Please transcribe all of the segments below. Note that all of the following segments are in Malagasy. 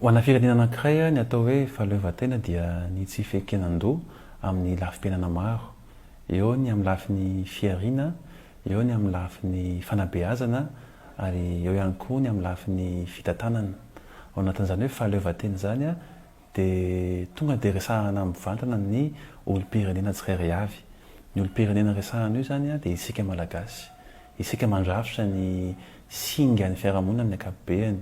Ho ana firenena anankiray, ny atao hoe fahaleovantena dia ny tsy fiekenan-doha amin'ny lafim-piainana maro, eo ny amin'ny lafiny fihariana, eo ny amin'ny lafiny fanabeazana ary eo ihany koa ny amin'ny lafiny fitantanana. Ao anatin'izany hoe fahaleovantena izany, dia tonga dia resahana mivantana ny olom-pirenena tsirairay avy. Ny olom-pirenena resahana eo izany dia isika Malagasy. Isika mandrafitra ny singan'ny fiarahamonina amin'ny ankapobeny.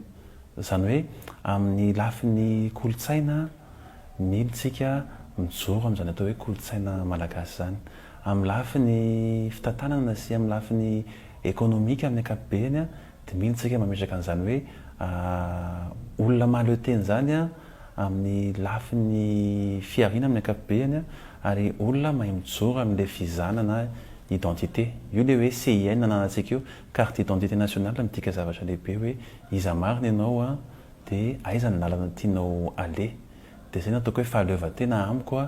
Izany hoe amin'ny lafiny kolontsaina milontsika mijoro amin'izany atao hoe kolontsaina malagasy izany. Amin'ny lafiny fitantanana sy amin'ny lafiny ekonomika amin'ny ankapobeny. Dinihin tsika mametraka an'izany hoe olona mahaleo tena izany amin'ny lafiny fihariana amin'ny ankapobehany ary olona mahay mijoro amin'ilay fizana na identité. Io ilay hoe CIN nananantsika io, carte d'identité nationale midika zavatra lehibe hoe iza marina ianao dia aiza ny lalana tianao aleha. Dia izay no ataoko hoe fahaleovantena amiko.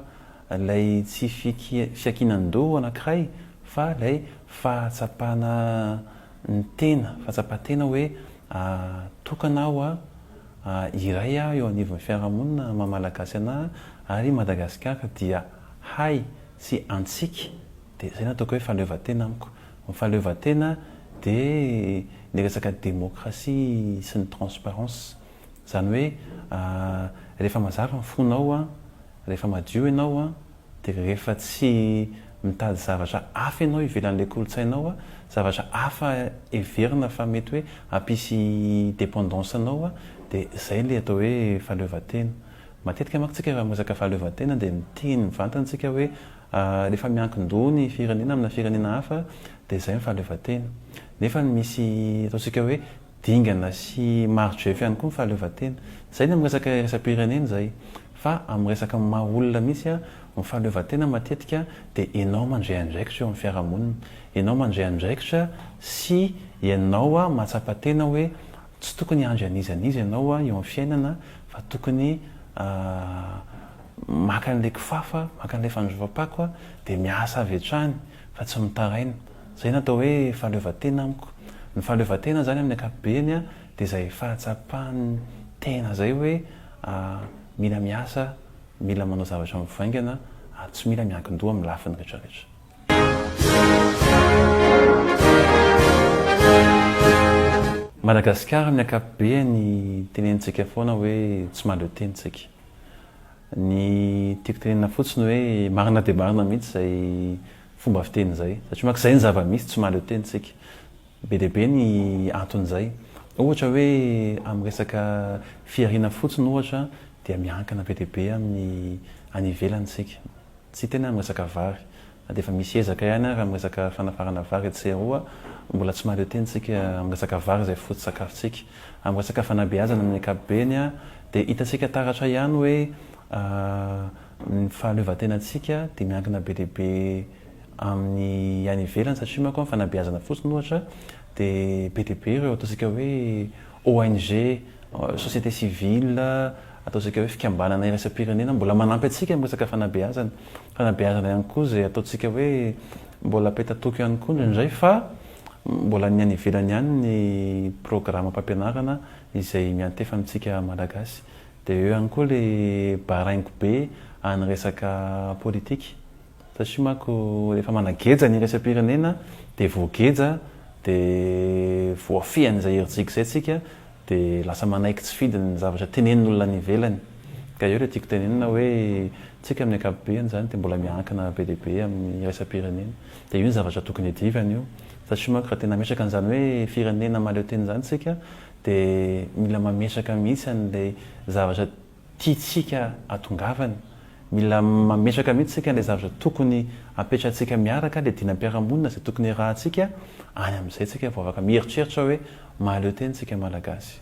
Ilay tsy fiankinan-doha anankiray fa ilay fahatsapana ny tena, fahatsapan-tena hoe tokana aho, iray aho eo anivon'ny fiarahamonina maha Malagasy anahy ary i Madagasikara dia ahy sy antsika dia izay no ataoko hoe fahaleovantena amiko. Ny fahaleovantena dia ny resaka demokrasia sy ny transparence. Izany hoe rehefa mazava ny fonao Rehefa madio ianao an, dia rehefa tsy mitady zavatra hafa ianao ivelan'ilay kolontsaina ao, zavatra hafa heverina fa mety hoe hampisy dependance anao, dia izay ilay atao hoe fahaleovantena. Matetika manko tsika raha miresaka fahaleovantena dia miteny mivantana tsika hoe rehefa miankin-doha ny firenena amina firenena hafa dia izay ny fahaleovantena. Nefa misy ataontsika hoe dingana sy maro GF ihany koa ny fahaleovantena. Izay ny amin'ny resaka iraisam-pirenena izay. Fa amin'ny resaka amin'ny maha olona mihitsy, ny fahaleovantena matetika dia ianao mandray andraikitra eo amin'ny fiarahamonina. Ianao mandray andraikitra sy ianao mahatsapa tena hoe tsy tokony handry an'iza an'iza ianao eo amin'ny fiainana fa tokony maka an'ilay kifafa, maka an'ilay fandrovam-pako dia miasa avy hatrany fa tsy mitaraina. Izay no atao hoe fahaleovantena amiko. Ny fahaleovantena izany amin'ny ankapobeny dia izay fahatsapan'ny tena izay hoe mila miasa, mila manao zavatra mivaingana ary tsy mila miankin-doha amin'ny lafiny rehetrarehetra. Madagasikara amin'ny ankapobeny tenenintsika foana hoe tsy mahaleo tena isika. Ny tiako tenenina fotsiny hoe marina dia marina mihitsy izay fomba fiteny izay satria manko izay ny zava-misy, tsy mahaleo tena isika. Be dia be ny anton'izay. Ohatra hoe amin'ny resaka fihariana fotsiny ohatra dia miankina be dia be amin'ny any ivelany isika. Tsy tena amin'ny resaka vary. Na dia efa misy ezaka ihany ary amin'ny resaka fanafarana vary etsy sy eroa, mbola tsy mahaleo tena isika amin'ny resaka vary izay foto-tsakafontsika. Amin'ny resaka fanabeazana amin'ny ankapobeny dia hitantsika taratra ihany hoe Ny fahaleovantenantsika dia miankina be dia be amin'ny any ivelany satria manko amin'ny fanabeazana fotsiny ohatra dia be dia be ireo ataontsika hoe ONG, société civile, ataontsika hoe fikambanana iraisam-pirenena mbola manampy antsika amin'ny resaka fanabeazana. Fanabeazana ihany koa izay ataontsika hoe mbola petatoko ihany koa indraindray fa mbola ny any ivelany ihany ny programam-pampianarana izay miantefa amintsika Malagasy. Dia eo ihany koa le baraingo be any resaka politika. Satria manko rehefa manageja ny iraisam-pirenena dia voageja dia voafihan'izay herijika izay tsika dia lasa manaiky tsy fidiny ny zavatra tenenin'olona any ivelany. Ka eo le tiako tenenina hoe tsika amin'ny ankapobeny izany dia mbola miankina be dia be amin'ny iraisam-pirenena. Dia io ny zavatra tokony hiadivany io. Satria manko raha tena hametraka an'izany hoe firenena mahaleo tena izany tsika Dia mila mametraka mihitsy an'ilay zavatra tiantsika atongavana. Mila mametraka mihitsy isika an'ilay zavatra tokony apetratsika miaraka, ilay dinam-piarahamonina, izay tokony hiarahantsika, any amin'izay isika vao afaka mieritreritra hoe mahaleo tena isika Malagasy.